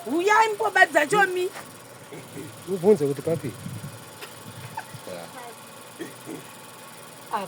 huyai mkoba dzacho mi ubvunze kuti papi apa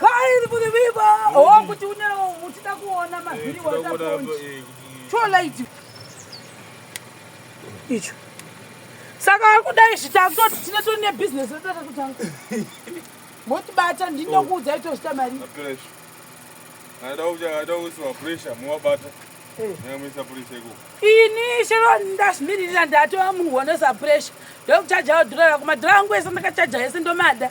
Kairi kuti viva oh kuti une uchida kuona mavhiri wataponji eh, cholaiti icho saka akudai zvitangoti tine toni nebhizinesi ratata kutanga motibata ndinokuudza itozvita mari ini chero ndazvimiririra ndatova munhu wanoisa puresha ndokuchajawo dhora rako madhora angu ese ndakachaja ese ndomada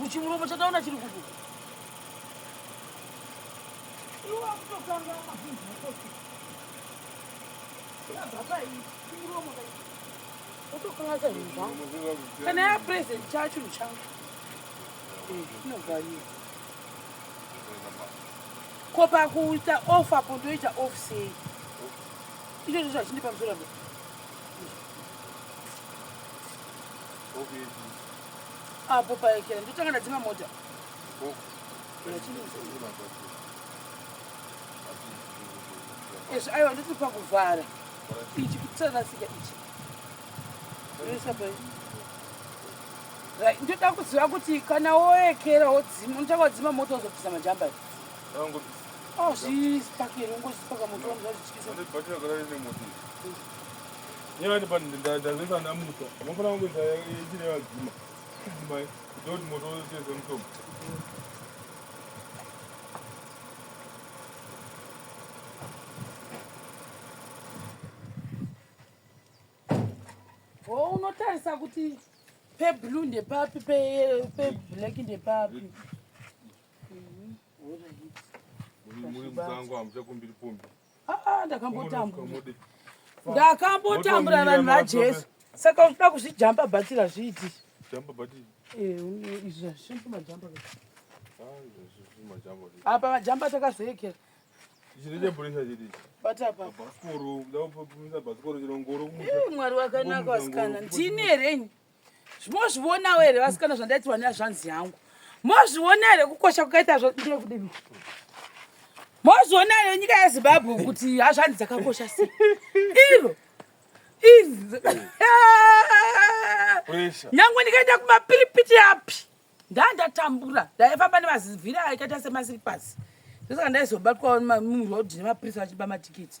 kuchimuromo chataona chiri kudu utokangaza zvinhu zvangu kana yapresent chaa chinhu changu inobvaii ko pakuita off apo ndoita off sei icho ndizvo zvachindipa muzoramba apo paekera ndotanga ndadzima mota izvi aiwa ndoti pakuvhara ichi kutsarasika ichi ndoda kuziva kuti kana woekera wodzima unotanga wadzima mota wozobvisa majamba azvizipakeri ungozvipaka moto wazvityisa Nyaya ndipo ndazvesa ndamusa. Mofana wangu za yechine yadzima. Kudzimai. Dodi moto wese mutombo. Oh, unotarisa kuti peblue ndepapi peblack ndepapi muri musango hamuchakumbiri pombi Ah, ndakambotambura ndakambotambura vanhu vajesu saka unoda kuzvijamba bhatira zviiti eh, apa majamba takazoekera mwari wakanaka vasikana ndini herenyi Mozvionawo here vasikana zvandaitirwa nezvanzi yangu? Mozviona here kukosha kwakaita zvandiri kudini? Mozviona here nyika yeZimbabwe kuti hazvanzi dzakakosha sei? Iro izvi nyangwe ndikaenda kumapiripiti api ndandatambura ndaifamba nemazivhira akaita semasiripasi ndosaka ndaizobatwa muroad nemapurisa vachiba matikiti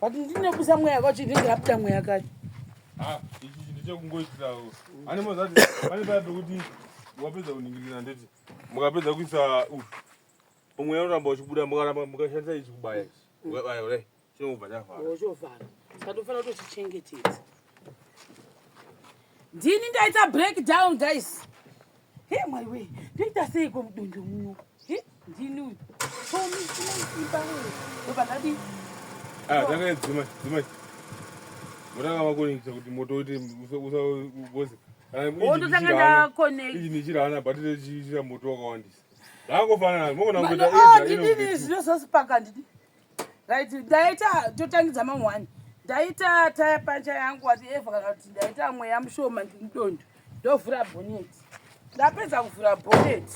but ndinobusa mweya kacho ndinenge abuda mweya kacho ah, ichi ndichakungoitirawo ane mazati pane paya pekuti wapedza kuningirira ndeti mukapedza kuisa umweya unoramba uchibuda mukaramba mukashandisa ichi kubaya ichi ukabaya kudai chinobva chavhara oh, chovhara saka tofanira kutochichengetedza ndini ndaita break down guys he mwari wee ndoita seiko mudundu muno he ndini uyu somiiimba oba ndadi takadzima ah, dzimai motanga makonekita kuti moto uite usaoze wototanga ndakoneknichira hana batire chichira moto wakawandisa zvangofanana mokonaa ndidini zvinozosipaka ndidi right ndaita totangidza ma one ndaita taya pancha yangu wati eva kana kuti ndaita mweya mushoma ndindondo ndovhura bonet ndapedza kuvhura bonet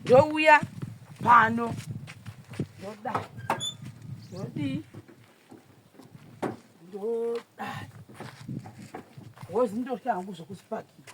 ndouya pano ndoda ndodii ndoda wozi ndoshangu zvokusipakira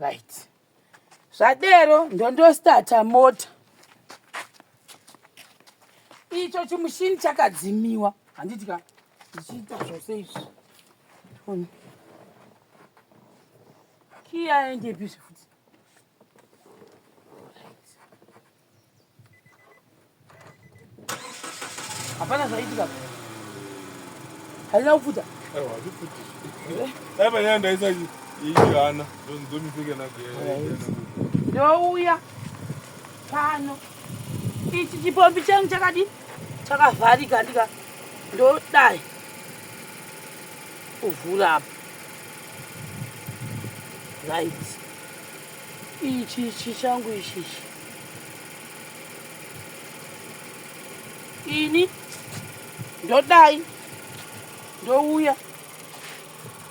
right zvadero ndondostata mota icho chimushini chakadzimiwa handiti ka ndichiita zvose izvi kiyaendepi zvifuti Hapana zvaitika. Haina kufuta. Aiwa, hazvifuti. Dai panyaya ndaisa ichihana ndomiseke nake. Ndouya pano. Ichi chipombi changu chakadi chakavharika ndika ndodai kuvhura apa. Right. Ichi ichi changu ichi ichi. Ini ndodai ndouya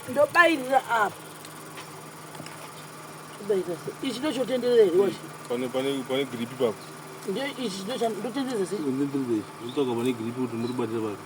ndobairira apa kubairira ichi ndochotenderera here wacho pane pane pane gripi papo ndio ichi ndotenderera sei ndotenderera ichi ndotsvaga pane gripi kuti muri kubatira papi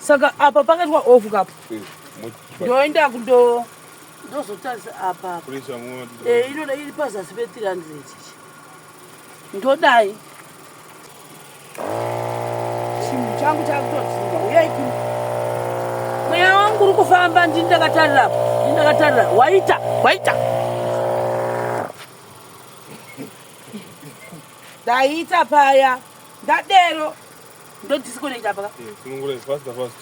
saka apa pakaitwa off kapo eh, ndoenda kundo ndozotarisa apa eh, inoda iri pazasi pe 300 ichi ndodai chinhu changu chakutodzimba uyai kuno mweya wangu uri kufamba ndini ndakatarira apa ndini ndakatarira waita waita ndaita paya ndadero ndodisconnect apa ka eh, sunungura is faster fast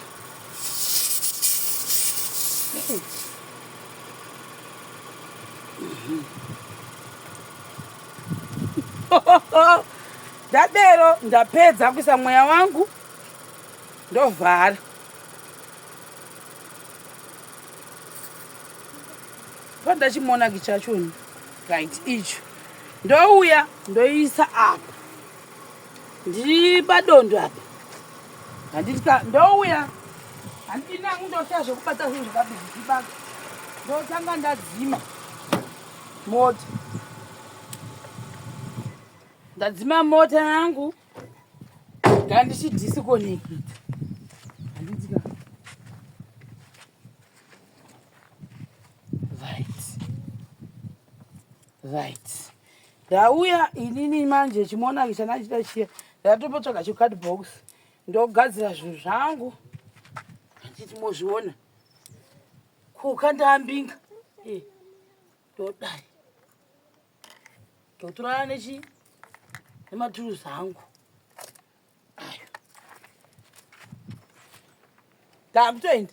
ndadero ndapedza kuisa mweya wangu ndovhara pandachimonaki chachoni right icho ndouya ndoisa apa ndiripadondo apa handitika ndouya handinangu ndoita zvekubata zvinhu zvakabizibaka ndotanga ndadzima mota ndadzima mota yangu ndaa ndichidisikonekita handitika Right. Ndauya inini manje chimonaki chandachita chiya ndatopotsvaga chicard box ndogadzira zvinhu zvangu handiti mozviona kuka ndambinga Eh, ndodai ndotorana nechi nematuruzi angu ayo ndakutoenda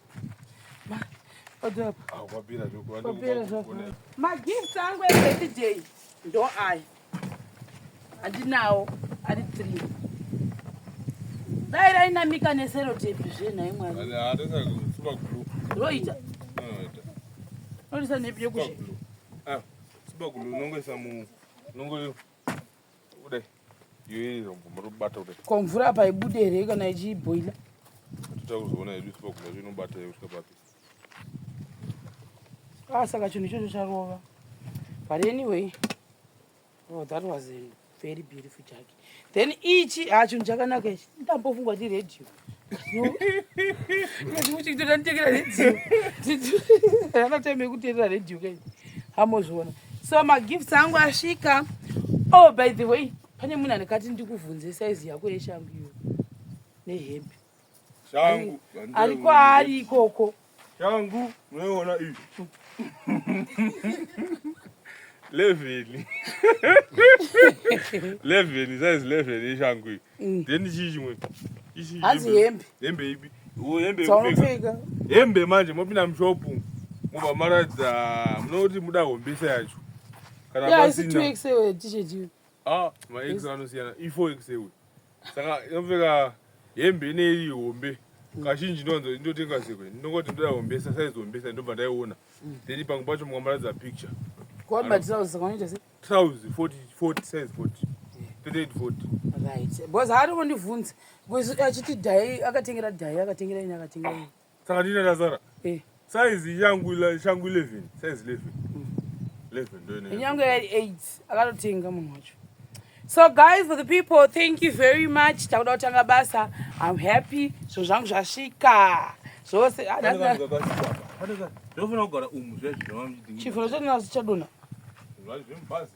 magifts angu ebirthday ndo aya handinawo ari three dai rainamika neserotepi zvenhai mwari roita roisa nepi yekuti Kudai. Yeye rombo muri kubata kudai. Ko mvura apa ibude here kana ichiboila? Totanga kuzoona hedu tipa kuda zvinobata yeye kusvika papi. Ah, saka chinhu ichocho charova. But anyway, oh, that was a very beautiful jacket. Then ichi, ah, chinhu chakanaka ichi. Ndambofungwa ndi radio. uchitoda nditekera redio ana time yekuterera redio kai hamozviona so magifts angu asvika oh by the way pane munhu anekati ndikuvhunze saizi yako yeshangu iyo nehembe ari kwaari ikoko Shangu munoiona iyi levheni levheni size levheni yeshangu iyi mm. then chii chimwe hanzi hembe hembe ipi hembe dzaunopfeka hembe manje mopinda mushopu mobva maratidza munoti muda hombesa yacho kana pasina Ah, ma ex anosiyana. Ifo ex ewe. Saka inopfeka hembe ine iri hombe. Kazhinji ndonzo ndotenga sekwe. Ndongoti ndoda hombe sa size hombe sa ndobva ndaiona. Then pamwe pacho mukambaradza picture. Kuamba trousers saka unoita sei? Trousers 40 40 size 40. 38 40. Right. Because haari kundivhunza. Because achiti dai akatengera dai akatengera ini akatengera ini. Saka ndine ndazara. Eh. Size yangu ila shangu 11, size 11. 11 mm. ndo ine. Nyangu ya 8 akatotenga munhu wacho. So guys for the people thank you very much. Takuda kutanga basa. I'm happy. Zvinhu zvangu zvasvika. Zvose. Ah, Ndofuna kugara umu zvezvo. Chifuro chonazvo chadona. Zvazi zvemubazi.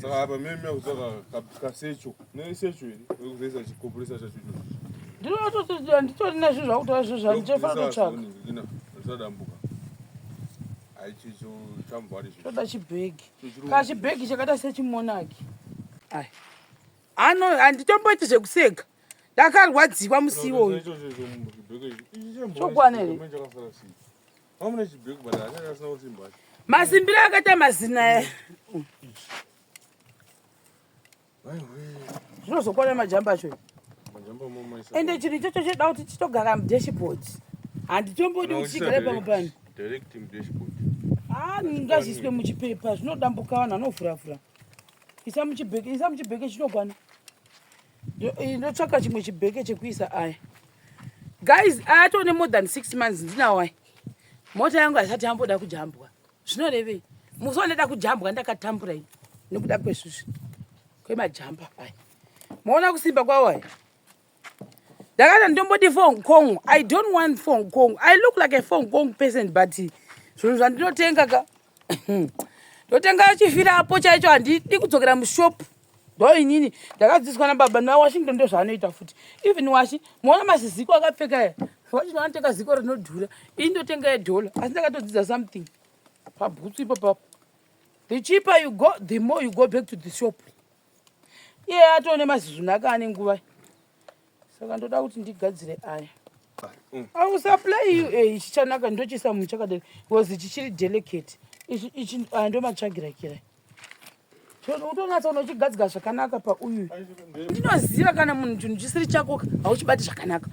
saka apa meme akutsvaka kasecho nesecho iri ekuzoisa chikoporesa chacho ndinototoda nditori nezvi zvakutaura zvo zvani chefana totsvaka zvisadambuka haichicho chamvari toda chibhegi ka chibhegi chakaita sechimonaki ai Ano handitomboiti zvekuseka. Ndakarwadziwa musi iwoyo. Chokwana here? Masimbiro akaita mazina aya. Zvinozokwana majamba acho. Ende chinhu ichocho choda kuti chitogara mudashboard. Handitombodi kuti chigare pamwe pano. Direct mudashboard. Ah, ngazviiswe muchipepa zvinodambuka vanhu vanovhuravhura. isa muchibheke isa muchibheke chinogwana eh, ndotsvaka chimwe chibheke chekuisa aya guys aya toone more than six months ndinawo aya mota yangu haisati yamboda kujambwa zvinorevei musi wandaida kujambwa ndakatambura ini nekuda kwezvizvi kwemajamba aya maona kusimba kwawo aya ndakati ndomboti fong kong i don't want fong kong i look like a fong kong person but zvinhu zvandinotenga ka ndotenga chifira apo chaicho handidi kudzokera mushopu ndo inini ndakadzidziswa nababa nawashington ndo zvaanoita futi even washi moona maziziko akapfeka ya washington anotenga ziko rinodhura ini ndotenga yedhola asi ndakatodzidza something pabhutsu ipo papo the cheaper you go the more you go back to the shop iye atone mazizvuna aka ane nguva saka ndoda kuti ndigadzire aya mm. ausaplay you e eh, chichanaka ndochisa munhu chakadai bcause chichiri delicate ichi aya ndomatsvagira kirai utonatsa unochigadzika zvakanaka pauyu ndinoziva kana munhu chinhu chisiri chako hauchibati zvakanaka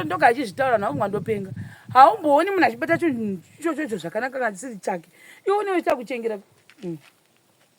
ndoka achizvitaura naunga ndopenga haumbooni munhu achibata chinhu ichochocho zvakanaka kana chisiri chake iwe unewe chakuchengera mm.